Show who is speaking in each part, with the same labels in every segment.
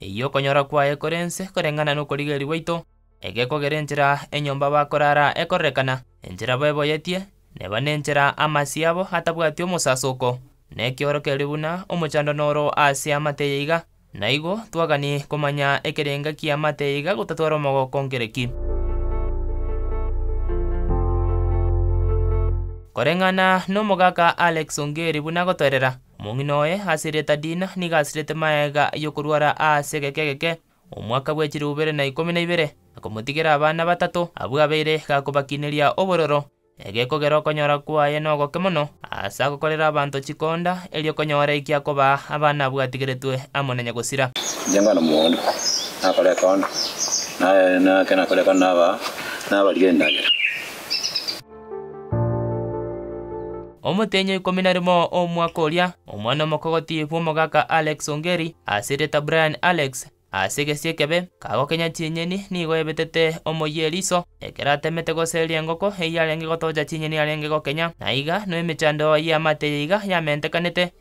Speaker 1: Eyio okonyora kwaye kore ense koreng'ana n'okorigereria gwaito, egekogera enchera enyomba bakorara ekorerekana, enchera beboyetie, neba nenchera amasio yabo atabwati omosasoko, na ekioro keri buna omochandano oro aase amate eye iga, na igo twagani komanya ekerenga ki'amate eye iga gotatwara omogoko nkere ki. Koreng'ana n'omogaka Alex Ongeri buna agotoerera, Omong'ina oye asiriete Dina nigo asirete magega y'okorwara aase egeke egeke, omwaka bwe chirubere na ikomi na ibere, akomotigera abana batato, abwo abeire gakobakineria obororo. Egekogera okonyora kwaye nogoke mono, aase agokorera abanto chikonda, erio konyore eki akobaa abana abwo atigeretwe amo na nyagosira. Inche nkwana mogondo,
Speaker 2: nakora ekondo, na ekero nakora ekondo nabaa, nabarigia endagera.
Speaker 1: Omotenyo ikomi na rimo omwaka oria, omwana omokogoti bw'omogaka Alex Ongeri, ase erieta Brian Alex, ase egesie ekebe, kagokenya chinyeni nigo ebetete omoyie eriso, ekero atemete goseria engoko eyio arenge gotocha chinyeni arenge gokenya, na aiga no emechando y'amaate eyio iga yamentekanete.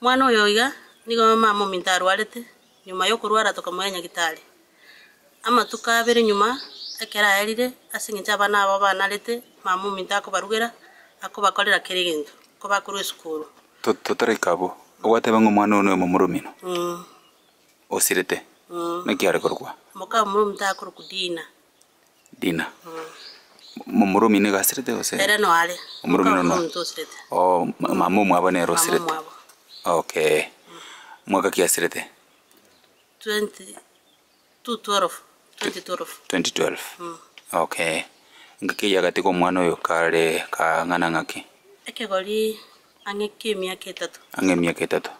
Speaker 3: Mwana oyo oiga nigo mama ominto arwarete, nyuma y'okorwara tokamoa Nyagitari. Amatuko abere nyuma, ekero aerire, ase engencho abana aba banarete, mama ominto akobarugera, akobakorera kera egento, ko bakorwa esukuru. Totareka
Speaker 4: abwo, ogwateba ng'a omwana oyo noyo momoromino osirete, naki are korokwa? Moka omominto
Speaker 3: akorokwa Dina. Dina.
Speaker 4: Mo- Omorumi nigo asirete gose? Ere noare. Omorumi
Speaker 3: Moka nono. omonto
Speaker 4: osirete. Oh, ma- mama omwabo nere Mama osirete. omwabo. Okay. Mwaka ki asirete? 20 to 12. 2012. 2012. Mm. Okay. Ngaki eyio agatiga omwana oyo kare kang'ana ng'aki? Ekegori
Speaker 3: ang'e ki'emiaka etato. Ang'e emiaka etato.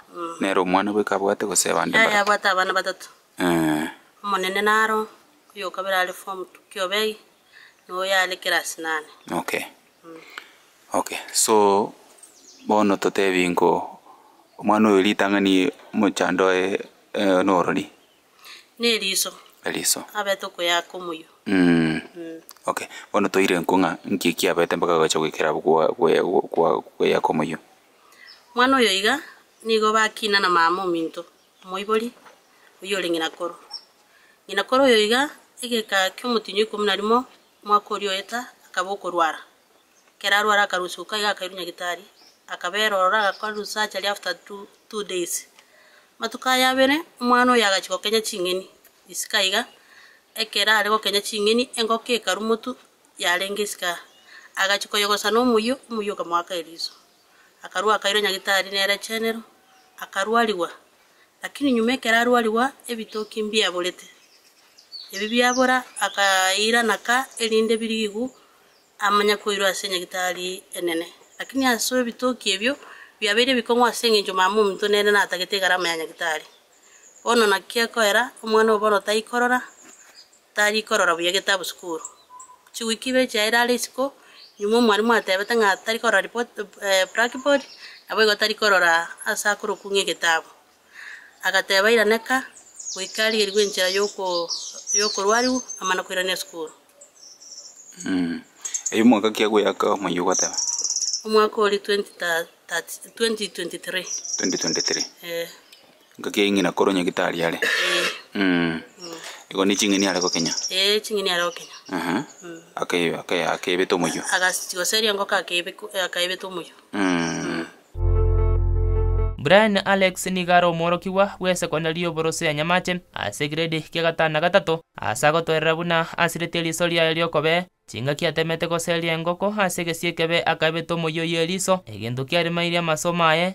Speaker 4: Nere omwana bweka abwate gose abande Yaya mbaria? abwate abana batato.
Speaker 3: Eh. Omonene naro. Oyokabere are form two kiobei noyo are class nane. Okay
Speaker 4: okay so bono totebie ngo omwana oyo ritang'ani mochando oye norori.
Speaker 3: Neriso. Eriso. Abete
Speaker 4: okoyaka
Speaker 3: omoyio.
Speaker 4: Okay bono toire nko ng'a nki kiabete mpaka agacha goikera abwo kwa goyaka omoyio. Omwana oyo
Speaker 3: iga nigo bakina na mama ominto. Omoibori, oyio ore ng'ina koro. Ng'ina koro oyo iga, egeka ki'omotienyi oikomi na rimo, omwaka oria oeta, akaba okorwara. Ekero arware akarusia uka iga akairwa nyagitari, akabera ororo agakora risurgery after two two days. Amatuko aya abere, omwana oyo agachia gokenya ching'eni, isiko iga, ekero are gokenya ching'eni, engoko ekarwa omotu, yarenge isiko aa. Agachia koyegosana omoyio, omoyio okamoaka eriso. akarua akairwa Nyagitari nere chenero, akarwarigwa, lakini nyuma ekero arwarigwa ebitoki mbiaborete. Ebi biabora akairana ka erinde birigigu amanye koirwa ase Nyagitari enene. Lakini ase ebitoki ebio biabeire ebikong'u ase engencho Mamaominto nere natagete egarama ya Nyagitari. Bono naki ekoera, omwana obono taikorora, Tari korora buya getabu sukuru. Chiwiki ibere chiayeire are isiko, nyuma omwalimu atebete ng'a tari korora report, blackboard, naboigo tari korora ase akorokwu ng'a egetabu. Agateba iraneka goika arigerigwe enchera y'oko y'okorwariwu amana koirania sukuru.
Speaker 4: Erio omwaka ki agoyaka omoyio ogoteba. Omwaka
Speaker 3: oria 20 ta, 30, 2023. 2023.
Speaker 4: Eeh. Engaki ya ing'ina
Speaker 3: koro nyagitari
Speaker 4: are. Eeh. Igo ne ching'eni are gokenya. Eeh ching'eni are gokenya. Aha.
Speaker 3: Ake-
Speaker 4: ake- akebete omoyio. Agasigoseria engoko akebe- akaebete omoyio.
Speaker 3: Eeh.
Speaker 1: Brian Alex nigo are omworokigwa bw'esekondari y'oborosio ya Nyamache ase egrade kia gatano na gatato. Ase agotoerera buna asiretie eriso riaye ri'okobee, chingaki atemete goseria engoko ase egesie ekebe akaebete omoyio oy'eriso, egento kiaremairie amasomo aye,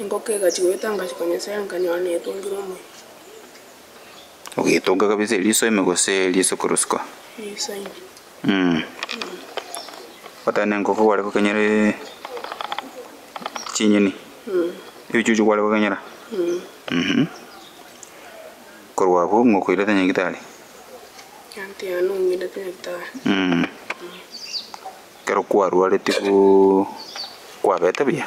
Speaker 5: Engoko egachia goeta ngachika Nyasae nkanyora netongire
Speaker 4: omoyo. Ogetonga kabisa eriso ime gose eriso korusikwa? Eriso
Speaker 5: ime. Mm.
Speaker 4: Otari na engoko kware kokenyera e- chinyeni. Mm. Ebichuchu kware kokenyera. Mm. Mhm. Korwa abwo ng'okoirete nyagitari. Egento
Speaker 5: yane ong'irete nyagitari. Mm.
Speaker 4: Kero kwarwareti gu kwabete buya.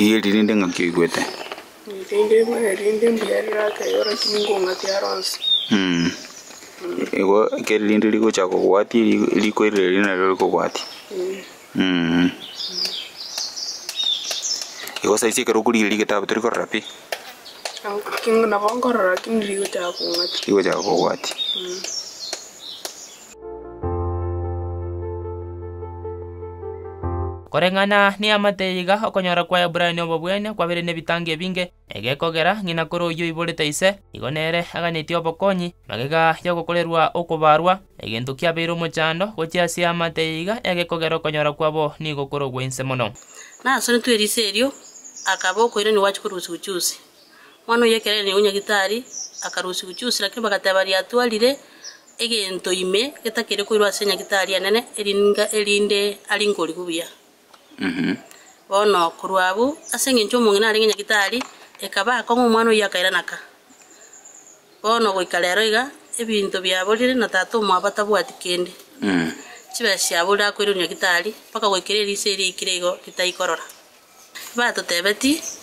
Speaker 4: Eye riri rinde ng'aki oigwete. Rinde mbuya,
Speaker 5: rinde mbuya riraka igo lakini ngong'aki aro onsi. Mm. Igo
Speaker 4: ekero rinde rigocha kobwatia ri- riko eri riria nario rikobwatia. Mm. Igo saizi ekero okorigeria rigetabu tori korora pi, King-
Speaker 5: nabo nkorora lakini rigochaka kong'ata rigochaka kobwatia.
Speaker 1: Koreng'ana neamate iga, okonyora kw'Aebrania obobwene kwabeire nebitango ebinge, Egekogera ng'ina kore oyio oiborete ise, igo nere aganyetie obokonyi, magega y'ogokorerwa okobaarwa, egento kiabeire omochando gochia ase amate yaiga egekogera okonyora kwabo nigo kore ogwe inse mono. Nasoretwe
Speaker 3: risa erio, akaba okoirania gwachia korusigwa chusi. Mwana oyio ekero airanirie gonya gitari, akarusigwa chusi, lakini bagateba riatwarire egento ime getakeri koirwa ase enyagitari enene, erininga erinde aringe origu buya. Bono, korwa abwo, ase engencho omong'ina arenge nyagitari, ekaba akong'a omwana oyio akairanaka. Bono goika rero iga, ebinto biaborire, na tata omwabo atabwati kende. Chibesa chiaborire akoirwe nyagitari, mpaka goikera eriso eria aikire igo ritaikorora. Batotebeti.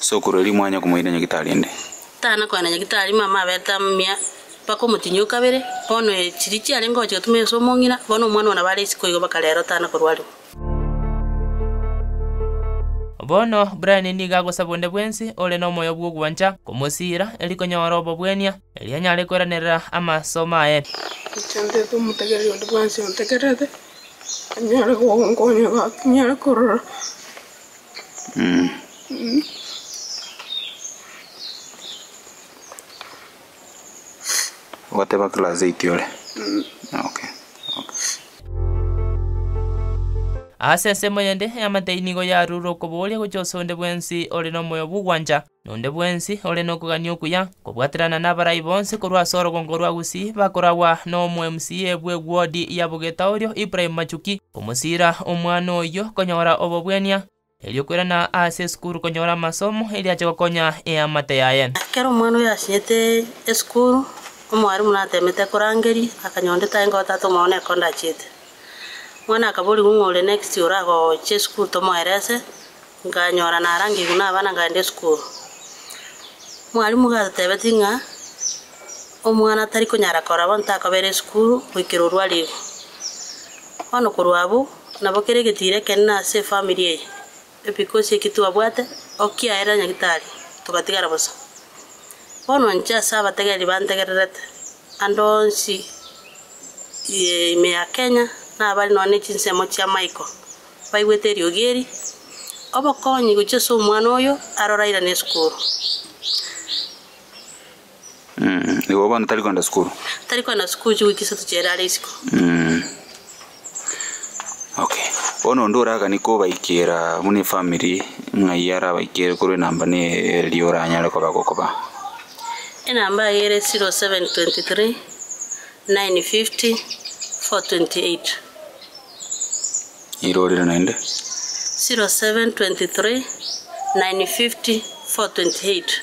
Speaker 4: Sokoro erio mwanya komoira nyagitari ende. Tana koenda nyagitari
Speaker 3: mama abete amia mpaka omotinyia o kabere, bono ee chiria chiarenge gocha gotumia ase omong'ina, bono omwana oo nabo are isiko igo mpaka rero tana korwariwa.
Speaker 1: Bono Brian nigo agosaba onde bwensi ore nomoyo bw'ogwancha komosiira erio konyora obobwenia, erio anyare koiranerera amasomo aye. Inche nteete
Speaker 5: omotegereri onde bwensi ontegererete, Banyare konkonya batinyare korora.
Speaker 4: Ogoteba class eight ore? Okay.
Speaker 1: Ase ensemo yende, eamate eyio nigo yarure okobooria gochia ase onde bwensi ore nomoyo bw'ogwancha. Nonde bwensi ore nokogania okuya, kobwaterana nabarai bonsi korwa ase orogongo rwa Gusii, bakoragwa n'omo-MCA bw'ewodi ya Bogeta oria Ibrahim Machuki, komosiira omwana oyio konyora obobwania, erio kwerana aase esukuru konyora amasomo, erio ache gokonya eamate yaye. Ekero omwana oyio asinyete
Speaker 3: esukuru, omwarimu natemete korangeria, akanyora onde tari ngotaata omwao nere kondachiete. Omwana akaborigwa ng'a ore next oragocha esukuru tomoerese, nkanyora narangigwe nabana nkaenda esukuru. Mwalimu gatotebeti ng'a omwana tari konyara korora bono takobera esukuru goikera orwo arigwe. Bono korwa abwo, nabo kera egetiro ekenene ase efamiri eye. Ebigochi eki twabwate o kiaera Nyagitari togatigara bosa. Bono nche ase abategereri bantegererete, ande onsi ye ime ya Kenya na abare nonya ne chinsemo chia Michael baigwete eriogi eri, obokonyi gochia ase omwana oyo arorairane esukuru.
Speaker 4: Mm, igo bono tari kwenda sukuru. Tari kwenda sukuru
Speaker 3: chiwiki isato chiere are isiko. Mm.
Speaker 4: Okay. Bono onde oragani kobaikera buna efamiri ng'ai arabaikere korwa enamba ne eria oranyare koba gokoba. Enamba
Speaker 3: yaye ere 0723 950 428. Irorire
Speaker 4: naende. 0723 950 428.